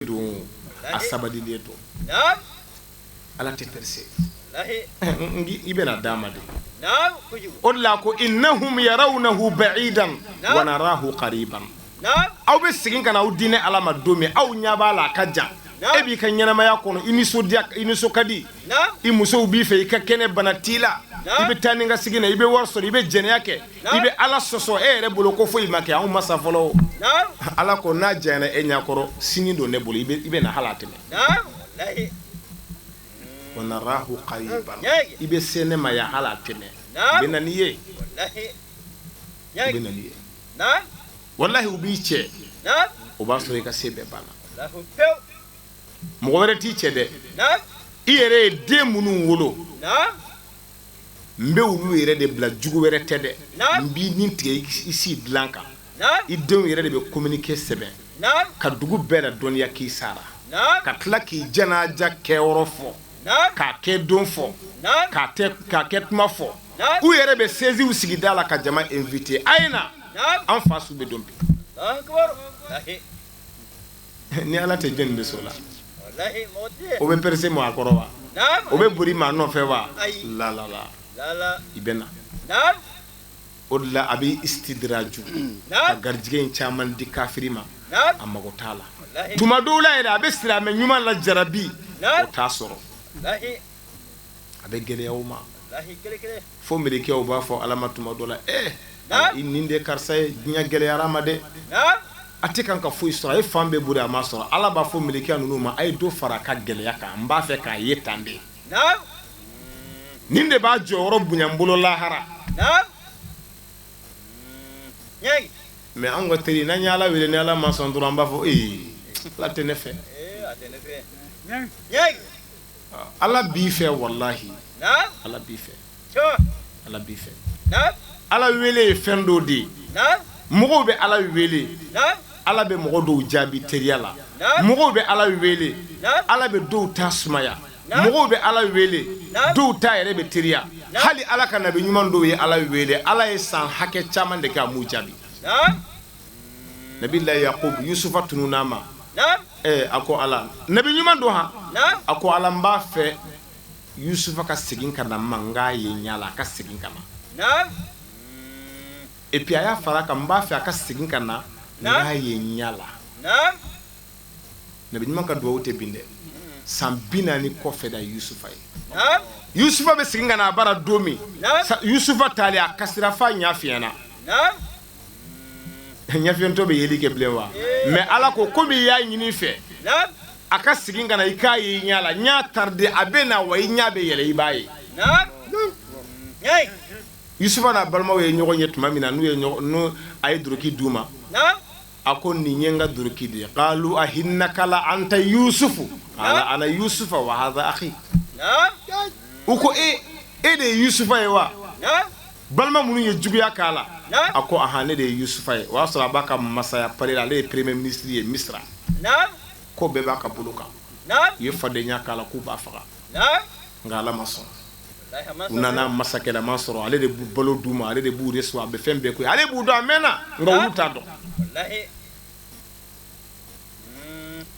don a sabali de don ala tɛ pɛrɛse i bɛna d'a ma de o la ko innahum yarawnahu ba'idan wa narahu qariban aw bɛ segin ka na aw di ne ala ma don min aw ɲɛ b'a la a ka jan e b'i ka ɲɛnɛmaya kɔnɔ i nisɔndiya i nisɔn ka di i muso b'i fɛ i ka kɛnɛ bana t'i la i bɛ taa ni ka segin na i bɛ wari sɔrɔ i bɛ jɛnɛya kɛ i bɛ ala sɔsɔ e yɛrɛ bolo ko foyi ma kɛ anw ma sa fɔlɔ ala ko n'a janyana e ɲɛkɔrɔ sini don ne bolo i bɛ na hali a tɛ mɛɛn wa narahu qariban i bɛ se ne ma yan hali a tɛ mɛɛn bɛ na n'i ye bɛ na n'i ye walayi u b'i cɛ o b'a sɔrɔ i ka se bɛɛ banna mɔgɔ wɛrɛ t'i cɛ dɛ i yɛrɛ ye den minnu wolo n bɛ olu yɛrɛ de bila jugu wɛrɛ tɛ dɛ n b'i ni tigɛ i si dilan kan i denw yɛrɛ de bɛ kominike sɛbɛn ka dugu bɛɛ ladɔnniya k'i sara ka tila k'i janaja kɛ yɔrɔ fɔ k'a kɛ don fɔ k'a kɛ tuma fɔ u yɛrɛ bɛ sɛsiw sigi da la ka jama invite a ye na an fa su bɛ don bi ni ala tɛ jɔn bɛ s'o la o bɛ pɛrɛse maa kɔrɔ wa o bɛ boli maa nɔfɛ wa lalala i bɛ na o de la a bɛ istidiraju ka garijɛgɛ in caman di kafiri ma a mago t'a la tuma dɔ la yɛrɛ a bɛ silamɛ ɲuman lajarabi o t'a sɔrɔ a bɛ gɛlɛya o ma fo mɛlɛkɛw b'a fɔ ala ma tuma dɔ la e i nin de karisa ye diɲɛ gɛlɛyara a ma dɛ a tɛ kan ka foyi sɔrɔ a ye fan bɛɛ boli a ma sɔrɔ ala b'a fɔ mɛlɛkɛ ninnu ma a ye dɔ fara a ka gɛlɛya kan n b'a fɛ k'a ye tan de nin de b'a jɔyɔrɔ bonya n bolo lahara mɛ an ka teri n'an ye ala wele ni ala ma sɔn dɔrɔn an b'a fɔ ala tɛ ne fɛ Ala b'i fɛ walahi Ala b'i fɛ, Ala b'i fɛ, Ala wele ye fɛn dɔ de ye mɔgɔw bɛ Ala wele Ala bɛ mɔgɔ dɔw jaabi teriya la mɔgɔw bɛ Ala wele Ala bɛ dɔw ta sumaya mɔgɔw bɛ Ala wele dɔw ta yɛrɛ bɛ teriya hali Ala ka nabi ɲuman dɔw ye Ala wele Ala ye san hakɛ caman de kɛ a m'u jaabi nabilayi yakuba yusufa tununna a ma a ko ala nabi ɲuman don h a ko ala n b'a fɛ yusufa ka segin ka na n ma n k'a ye ɲa la a ka segin ka na epi a y'a fara kan n b'a fɛ a ka segin ka na n k'a ye ɲa la nabi ɲuman ka dugawu tɛ bin dɛ san bi naani kɔfɛ d'a yusufa ye yusufa bɛ segin ka na a bara don min yusufa taali a kasira f'a ɲɛ fiyɛnna ɲɛfiyentɔ bɛ yeli kɛ bilen wa mais ala ko komi i y'a ɲini n fɛ a ka segin ka na i k'a ye i ɲɛ la n y'a tardé a bɛ na wa i ɲɛ bɛ yɛlɛ i b'a ye yusufa n'a balimaw ye ɲɔgɔn ye tuma min na n'u ye n a ye duloki d'u ma a ko nin ye n ka duloki de ye qalu a'innaka la anta yusufu qala ana yusufu wa haza akhi u ko e de ye yusufa ye wa balima minnu ye juguya k'a la a ko ah ne de ye yusufa ye o y'a sɔrɔ a b'a ka masaya palais la ale ye premier ministre ye misira ko bɛɛ b'a ka bolo kan u ye fadenya k'a la k'u b'a faga nka ala ma sɔn u nana masakɛlama sɔrɔ ale de bɛ balo d'u ma ale de b'u recevoir a bɛ fɛn bɛɛ k'u ye ale b'u dɔn a mɛnna nka olu t'a dɔn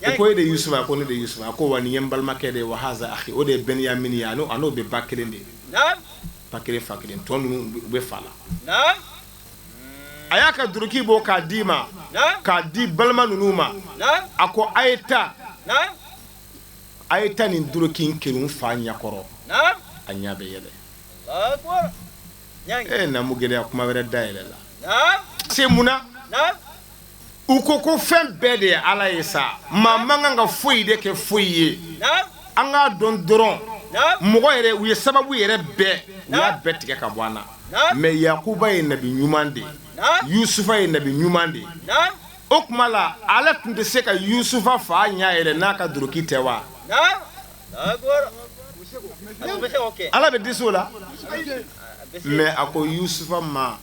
u ko e de yusufa a ko ne de yusufa a ko wa nin ye n balimakɛ de ye wa haza akhi o de ye bɛnyamini ye a n'o bɛ ba kelen de ye ba kelen fa kelen tɔ ninnu bɛ fa la a y'a ka duloki bɔ k'a d'i ma k'a di balima ninnu ma a ko a ye taa a ye taa nin duloki in kerun n fa ɲɛkɔrɔ a ɲɛ bɛ yɛlɛ e ye namu gɛlɛya kuma wɛrɛ dayɛlɛla se mun u ko ko fɛn bɛɛ de ye ala ye sa maa man kan ka foyi de kɛ foyi ye an k'a dɔn dɔrɔn mɔgɔ yɛrɛ u ye sababu yɛrɛ bɛɛ u y'a bɛɛ tigɛ ka bɔ an na mais yakuba ye nabi ɲuman de ye yusufa ye nabi ɲuman de ye o tuma la ala tun tɛ se ka yusufa fa ɲɛ yɛlɛ n'a ka duloki tɛ wa ala bɛ dɛsɛ o la mais a ko yusufa ma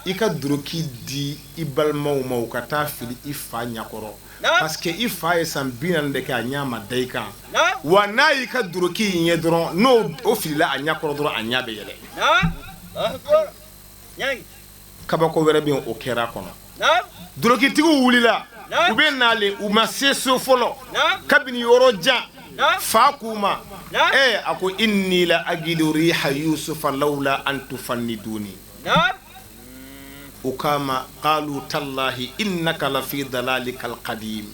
i ka duloki di i balimaw ma u ka taa fili i fa ɲɛkɔrɔ parce que i fa ye san bi naani de kɛ a ɲɛ ma da i kan wa n'a y'i ka duloki in ye dɔrɔn n'o o filila a ɲɛkɔrɔ dɔrɔn a ɲɛ bɛ yɛlɛ kabako wɛrɛ bɛ o kɛra kɔnɔ dulokitigiw wulila u bɛ nalen u ma se so fɔlɔ kabini yɔrɔ jan fa k'u ma ɛɛ a ko inni la ajidu riha yusufa lawla an tufanniduni u k'a ma qalu tallahi innaka la fi dalalikal qadim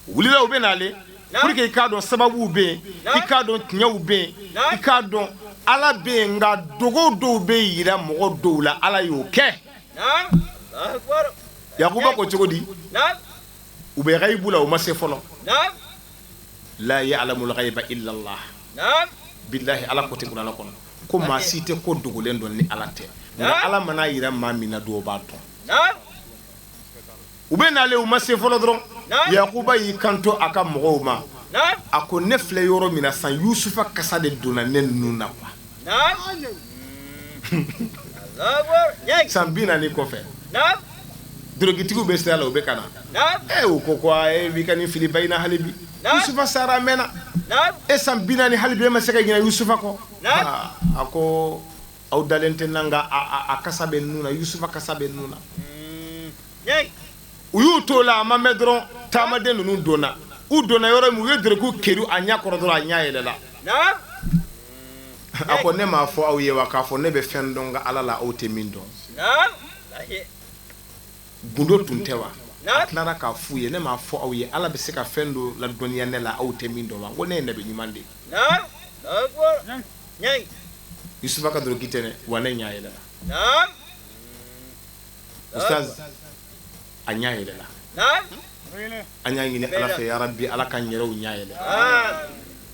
wulila u bɛ nalen pour que i k'a dɔn sababuw bɛ yen i k'a dɔn tiɲɛw bɛ yen i k'a dɔn ala bɛ yen nka dogo dɔw bɛ jira mɔgɔ dɔw la ala y'o kɛ yakuba ko cogo di u bɛ ghaibu la u ma se fɔlɔ la ya'lamul ghaiba illa llah bilahi ala ko ten kurana kɔnɔ ko maa si tɛ ko dogolen dɔn ni ala tɛ nka ala man'a jira maa min na de o b'a dɔn u bɛ nalen u ma se fɔlɔ dɔrɔn Yakuba y'i kanto a ka mɔgɔw ma a ko ne filɛ yɔrɔ min na sa Yusufa kasa de donna ne nun na quoi san 40 kɔfɛ dorogitigiw bɛ sira la u bɛ ka na ee u ko ko e b'i ka nin fili ba in na hali bi Yusufa sara a mɛnna e san 40 hali bi e ma se ka ɲinɛ Yusufa kɔ a ko Aw dalen tɛ n na nka a kasa bɛ n nun na Yusufa kasa bɛ n nun na u y'u to la a ma mɛn dɔrɔn taamaden ninnu donna u donna yɔrɔ min u ye dorogi keri a ɲɛ kɔrɔ dɔrɔn a ɲɛ yɛlɛla a ko ne m'a fɔ aw ye wa k'a fɔ ne bɛ fɛn dɔn n ka ala la aw tɛ min dɔn gundo tun tɛ wa a tilara k'a fɔ u ye ne m'a fɔ aw ye ala bɛ se ka fɛn dɔ ladɔnniya ne la aw tɛ min dɔn wa ko ne ye ne bɛ ɲuman de ye Yusufa ka dorogi tɛ wa ne ɲɛ yɛlɛla ustaz a ɲɛ yɛlɛla an y'a ɲini ala fɛ ya rabbi ala k'an yɛrɛw ɲɛ yɛlɛ